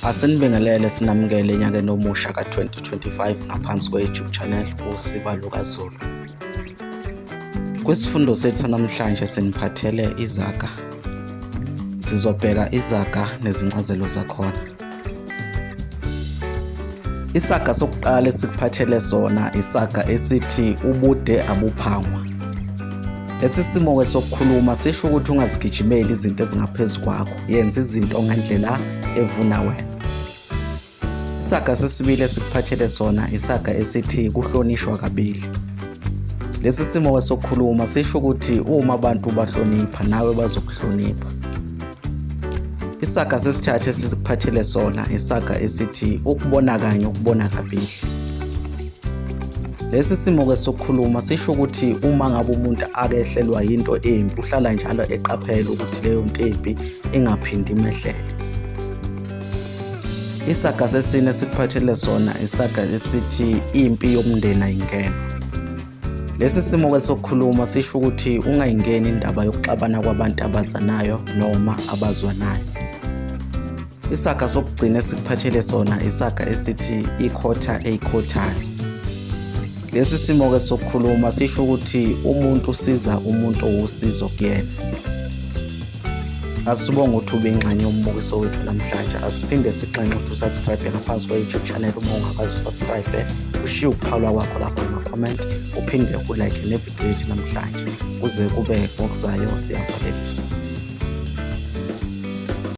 Asinibingelele sinamukele enyakeni omusha ka-2025 ngaphansi kwe-YouTube channel uSiba LukaZulu. Kwisifundo sethu namhlanje siniphathele izaga. Sizobheka izaga nezincazelo zakhona. Isaga sokuqala esikuphathele sona isaga esithi ubude abuphangwa. Lesi simo-ke sokukhuluma sisho ukuthi ungazigijimeli izinto ezingaphezu kwakho. yenza izinto ngendlela evuna wena isaga sesibili esikuphathele sona isaga esithi kuhlonishwa kabili lesi simo sokukhuluma sisho ukuthi uma abantu bahlonipha nawe bazokuhlonipha isaga sesithathu esikuphathele sona isaga esithi ukubona kanye ukubona kabili Lesi simo-ke sokukhuluma sisho ukuthi uma ngabe umuntu akehlelwa yinto embi uhlala njalo eqaphela ukuthi leyo nto embi ingaphindi imehlele. Isaga sesine sikuphathele sona isaga esithi impi yomndeni ayingena. Lesi simo-ke sokukhuluma sisho ukuthi ungayingeni indaba yokuxabana kwabantu abazanayo noma abazwanayo. Isaga sokugcina esikuphathele sona isaga esithi ikhotha eyikhothane. Lesi simo-ke sokukhuluma sisho ukuthi umuntu usiza umuntu owusizo kuyena. Asibonge ukuthi ube ingxenye yombukiso wethu namhlanje. Asiphinde sixenxe ukuthi usubscribe ngaphansi kwe-YouTube channel uma ungakazi usubscribe. Ushiye ukuphalwa kwakho lapho kuma-comment uphinde ulike nevidiyo yethu namhlanje kuze kube ngokuzayo siyavalelisa.